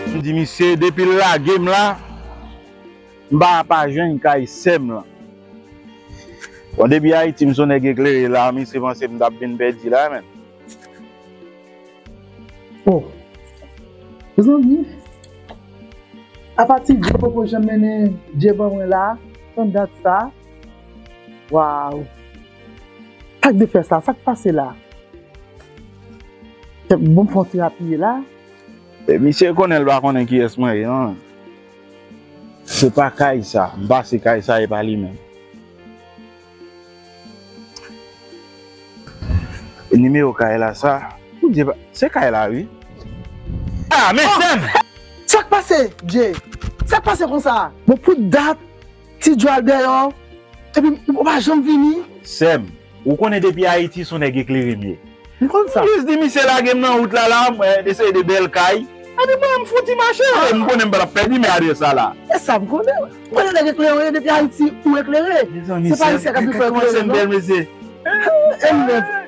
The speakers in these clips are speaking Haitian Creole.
M di misye depi l lage m la m pa pa jwenn kay sè m lan. Bon depi Ayiti m son nèg eklere la misye panse m t ap vin pèdi la menm. O! Mezanmi! Apa ti Dye poko janm mennen Dye ban mwen la tann dat sa? Waw. Sak de fè sa, sak pase la? Kèp bon fon ti apiye la. E misye konnen l pa konnen kiyès mwen ye non. Se pa kay sa, m pase kay sa e pa li menm. E nimewo kay la sa? Poudye pa, se kay la wi. Ah men sèm! Sak pase Jay? Sak pase konsa? Bon pou dat Ti djwal deyò epi ou pa janm vini. Sèm, ou konnen depi Ayiti son nèg eklere m ye. M konn sa. M jis di misye lage m nan wout la la, mwen eseye de bèl kay, epi mwen menm m fouti mache. M konnen m pa t ap pèdi men adrès la la. E sa m konnen. M konnen nèg eklere w ye depi Ayiti ou eklere. Se pa Ayisyen k ap vin fè w eklere non. Mezanmi Sèm, kòman Sèm bèl mesye. Enh!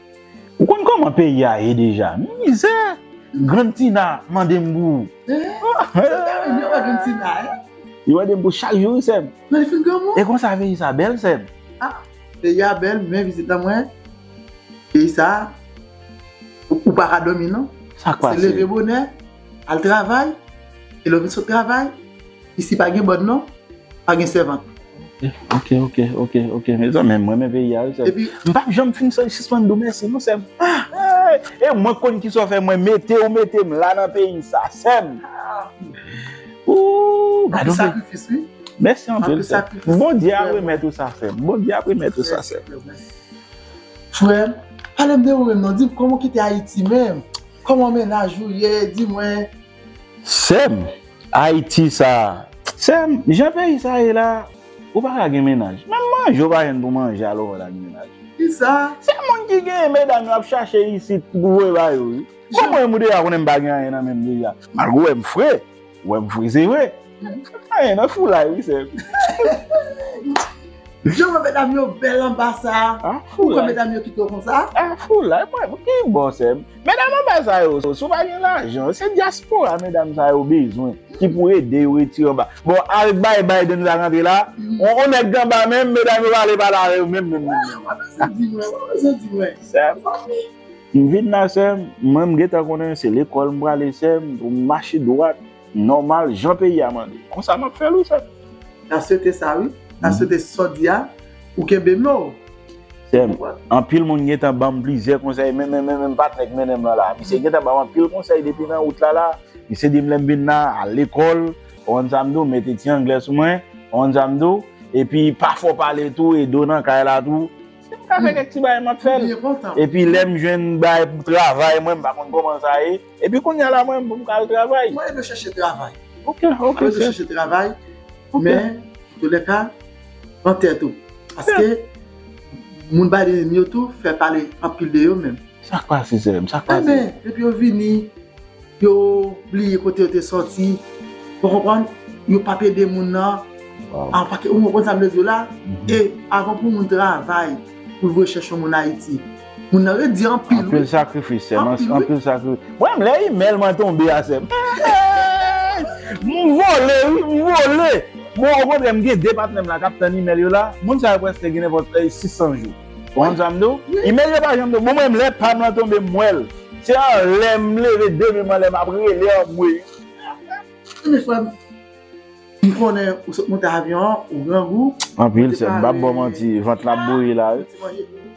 Ou konn koman peyi a ye deja mizè grann tina mande m pou Li mande m pou chak jou wi sèm E konsa peyi sa bèl sèm. Peyi a bèl men vizit la mwen peyi sa ou pa ka dòmi non se leve bonè al travay e lè w vin sot travay. Isi pa gen bòn non, pa gen sèvant. Ok ok ok ok mezanmi mwen renmen peyi a wi sèm m pap janm fin sispann di w mèsi non sèm e mwen konn kisa w fè mwen mete w mete m la nan peyi sa sèm ooh anpil sakrifis wi mèsi anpil sèm bondye ap remèt ou sa sèm bondye ap remèt ou sa sèm frè m pale m de ou menm non di m kòman w kite ayiti menm kòman mennaj ou ye di mwen sèm. Ayiti sa a. Sèm, jan peyi sa ye la, ou pa ka gen mennaj. Menm manje ou pa jwenn pou manje alò wè la gen mennaj. Kisa? Se moun ki genyen medam yo ap chache isit pou voye ba yo wi. Bon mwen menm ou deja konnen m pa gen anyen nan menm deja. Malgre ou wè m fre, ou wè m fre se vre. M pa gen anyen nan foulay wi sèm. Jan ou wè medam yo bèl anba sa a, ou kwè medam yo kite w konsa? Foulay, mwen, ki bò sèm? Medam anba sa yo, si w pa gen lajan, se dyaspora medam sa yo bezwen ki pou ede yo retire anba. Bon, al bay Biden sa k antre la, on nèg k anba menm, medam yo pale pale avè yo menm menm menm. Wap pase di mwen, wap pase di mwen, sè m pa vle. M vin la sè m, mwen m gentan konnen se lekòl m prale sè m, pou m mache dwat. Nòmal jan peyi a mande. Konsa map fèl wi sèm. Na swete sa wi. Na swete sa w di a ou kenbe men w. Sèm, anpil moun gentan banm plizyè konsèy men men men patnè k mennen m lan la. Misye gentan banm anpil konsèy depi nan wout la la. Misye di m lè m vin nan al lekòl, konprann sa m di w, mete ti anglè sou mwen, konprann sa m di w. Epi pa fò pale tou e do nan kay la tou. Si m ka fè kèk ti bagay map fèl. Epi lè m jwenn bagay pou travay mwen m pa konn kòman sa ye. Epi kounya la mwen menm pou m ka al travay. Mwen dwe chèche travay. Ok, ok sè. Mwen dwe chèche travay. Ok. Men, toulèka, pran tèt ou. Paske, moun Biden yo tou fè pale anpil de yo menm. Sa k pase sè m? Sa k pase? Enben, depi yo vini, yo bliye kote yo te soti. Ou konprann? Yo pap ede moun nan. Waw. An pake, ou konprann sa m vle di w la? E, avan pou moun travay, pou l voye chèche yon moun Ayiti. Moun nan red di anpil wi. Anpil sakrifis sèm. Anpil sakrifis. Mwen menm lè email mwen tonbe a sèm. M vole wi, m vole. Mwen okontrè m gen 2 patnè m la kap tann email yo la. Moun sa yo prèske gen nenpòt 600 jou. Ou konprann sa m di w? Email yo pa janm tonbe. Bon mwen menm lè pam lan tonbe m wè l. Se anlè m leve de menm anlè map rele anmweyy. Anmweyy frè m. M konnen ou sot monte avyon an, ou grangou. Anpil sèm. M pap ba w manti. Vant la ap bouyi la wi.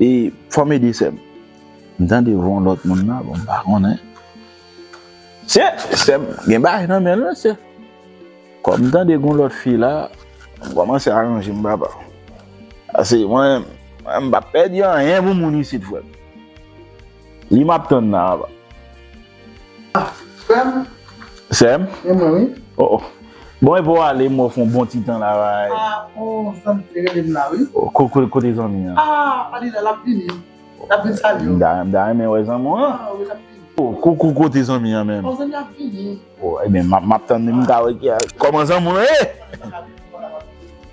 E fòm ede sèm. M tande von lòt moun la bon m pa konnen. Sè, sèm gen bagay nan menl wi sè. Kòm m tande gon lòt fi la, m kòmanse aranje m papa. Pase mwen menm, mwen m pap pèdi anyen pou moun isit frè m. Li map tann la papa. Frèm. Sèm. E mwen wi. Oh oh. Bon epa w ale m wè w fè yon bon ti tan la rayi. Ah oh zanmi te rele m la wi. Kote zanmi an? Ah pa di l la l ap vini. L ap vin salye w. M ta renmen wè zanmi w lan. Ah wi l ap vini. Oh koukou kote zanmi an menm? Oh zanmi an ap vini. Oh ebyen m ap tann li m ka wè ki a. Kòman zanmi w lan ye?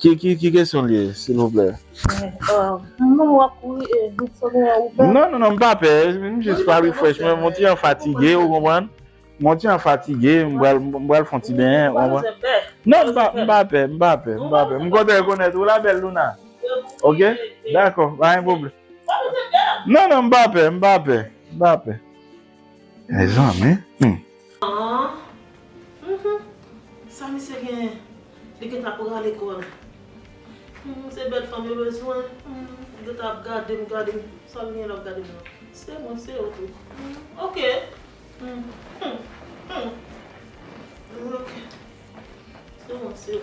Ki kesyon li ye silvouplè? Non non non m pa pè m jis pral refresh mwen mon ti jan fatige ou konprann mon ti jan fatige m pral fon ti benyen ou konprann non m pa pè m pa pè m kontan rekonèt ou la bèl Louna ok dakò pa gen pwoblèm non non m pa pè m pa pè m pa pè Mezanmi humm. Aww sa misye genyen li gentan prale kol humm se bel fanm yo bezwen li gentan ap gadem gadem sal genyen lap gadem nan se mwen se yo tou ok humm ok se mwen se yo.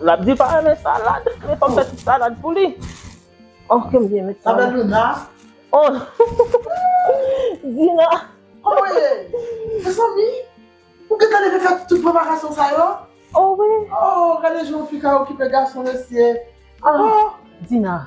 Lap di pa renmen salad, men fòm fè ti salad pou li. Oh ke m byen met sa. Sa bèl Luna. Oh Dina. Oh wi. Mezanmi. Ou gentan leve fè tout preparasyon sa yo? Oh wi. Oh gade jan yon fi ka okipe gason mesye. Oh. Dina.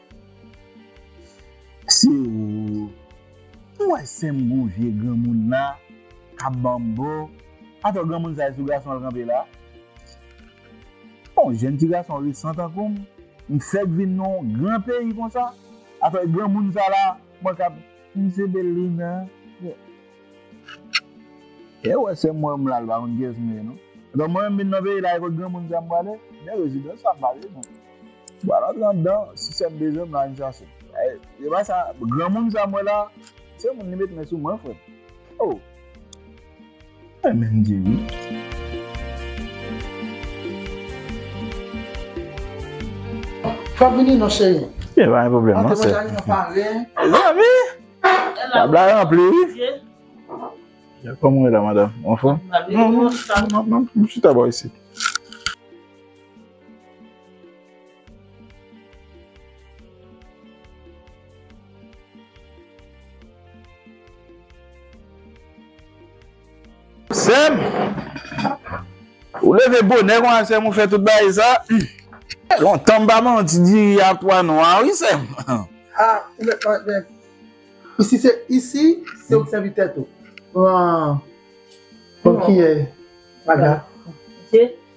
Se ooh Ou wè sèm gwo vye granmoun la kap banm bo Atò granmoun sa e sou gason l kanpe la Bon jèn ti gason resan tankou m m fèk vin nan yon gran peyi konsa Atò e granmoun sa la mwen kap M se Bellina. E wè sèm mwen m lal pa konn kiyès m ye non. Etan mwen menm vin nan peyi la e kot granmoun sa m prale, men rezidans sa m pa bezwen. M pral antre andan, si sèm bezwen m la vin chache m. Se pa sa, granmoun sa m wè la, se moun li met men sou mwen frè m. Oh! Mwen menm di wi. Fè vini non cheri. Gen pa gen pwoblèm non sè. Antre manje avèk mwen pare. Zanmi! Tab la ranpli wi. Kòman ou ye la madam? Ou anfòm? M chita bò isit. Sèm Ou leve bonè konsa sèm ou fè tout bagay sa Fè lontan m pa manw ti diri a pwa nwa wi sèm Ah ou mèt manje Isi se isi se ou k sèvi tèt ou Pran Pran kiyè Paga Mete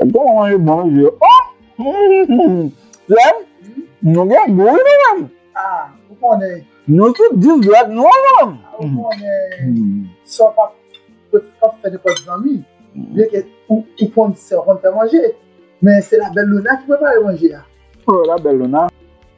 Mwen pa manje bon wi yo. Sèm, nou gen gou wi nou menm. A, ou konnen. Nou tout dous dwèt nou wi nou menm. A, ou konnen. Sè w pa p fè nenpòt zanmi. Byen ke ou konn sè w konn fè manje. Men se la belle Luna ki prepare manje a. O, la belle Luna.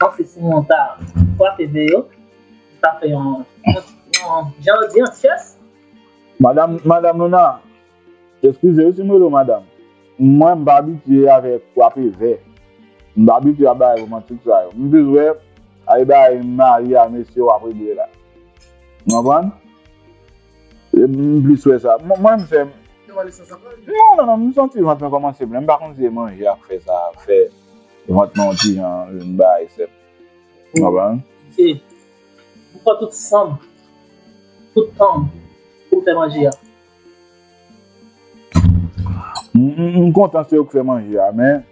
Bon se si moun ta kwape ve yo, ta fè yon jan yo di an tyès. Madam Madam Louna, eskize wi si m rele w madam, mwen m pa abitye avèk kwape ve, m pa abitye a bagay romantik sa yo. M plis wè a e bagay mari a mesye w ap regle la. Ou konprann? M plis wè sa. Mwen menm se m. Non non non m santi vant mwen kòmanse plen, m pa konn si e manje ak fè sa, fè. Vant mwen yon ti jan lè m bay sèp. Ou konprann? Se Pou pran tout san m, tout tan m pou m fè manje a. M kontan se ou k fè manje a men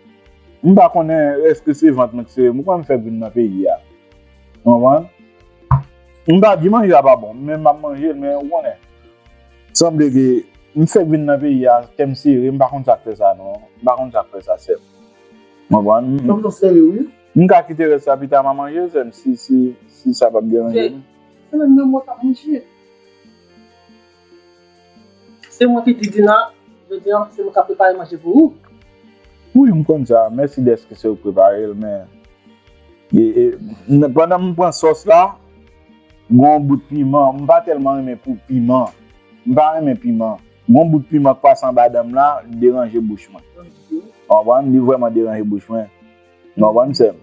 m pa konnen èske se vant mwen k sere m ou konn m fèk vin nan peyi a. Ou konprann? M pa di manje a pa bon men m ap manje l men ou konnen sanble ke m fèk vin nan peyi a kè m sere m pa konn sa k fè sa non m pa konn sa k fè sa sèm. M ka kite rès la pita m'a manje l sèm si sa pap deranje nou. Se menm nan mwen kap manje. Se mwen ki di Dina jodi an se mwen kap prepare manje pou ou. Wi m konn sa, mèsi dèske se ou ki prepare l men pandan m pran sòs la gon yon bout piman, m pa tèlman renmen pou piman, m pa renmen piman. Gon bout piman k pase anba dan m la li deranje bouch mwen. Ou konprann? Li vrèman deranje bouch mwen. Ou konprann sè m?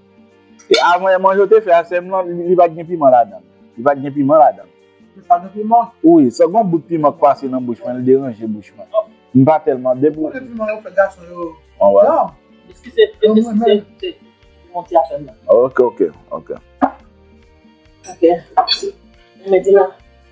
E avan yè manje ou te fè a sè m lan li pa t gen piman ladan l. Li pa t gen piman ladan l. Li pa gen piman? Wi. Sè gon bout piman k pase nan bouch mwen li deranje bouch mwen. M pa tèlman depi. Ou konnen piman yo fè gason yo djanm. Eskize m eskize m se piman ti afè m nan. Ok ok ok. Ok. Mè di la.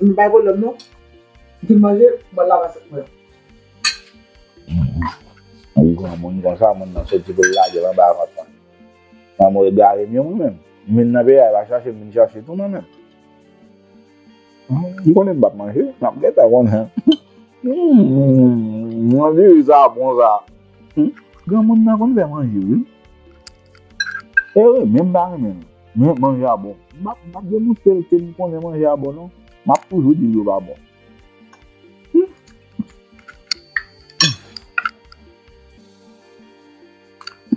M bay pwoblèm non. M fin manje, mwen lave asyèt mwen. M granmoun konsa, moun nan soti pou l lage l anba vant mwen. Manman w egare m yo mwen menm. M vin nan peyi a, e pa chache m vin chache tou mwen menm. M konnen m p ap manje, m ap gentan konnen. Humm, diri sa bon sa. Granmoun nan konn fè manje wi. E wi, menm pa renmen l. Men, manje a bon. M pa m pa deboute l ke m konnen manje a bon non. M ap toujou di l yo pa bon.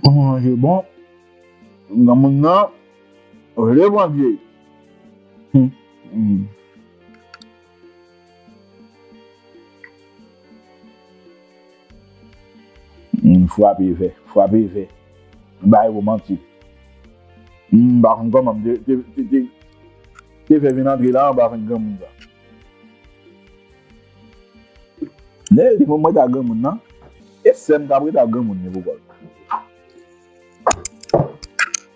Pou yon manje bon, granmoun nan vle Bondye. Humm frape vè frape vè bay ou manti humm m pa konn koman m te fè vin antre la an m pa konn granmoun sa lè li fè mwen ta granmoun nan e sèm kap reta granmoun li pou kòl.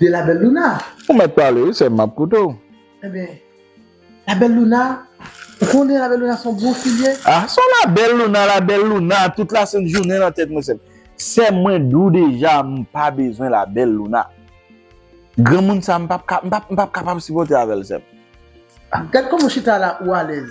de la belle Louna. Ou mèt pale wi sèm map koute w. Enben la belle Louna ou konnen la belle Louna son bon fi l ye. Ah son la belle Louna la belle Louna tout la sent jounen nan tèt mwen sèm. Sèm mwen di w deja m pa bezwen la belle Louna. Granmoun sa m pap kapab sipòte avèl sèm. Gad kòman w chita la ou alèz.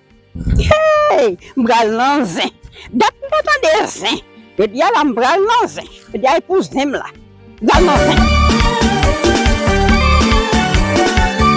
Hey m pral nan zen. Dat m pa tande zen. Jodi a la m pral nan zen. Jodi a e pou zen m la. M pral nan zen.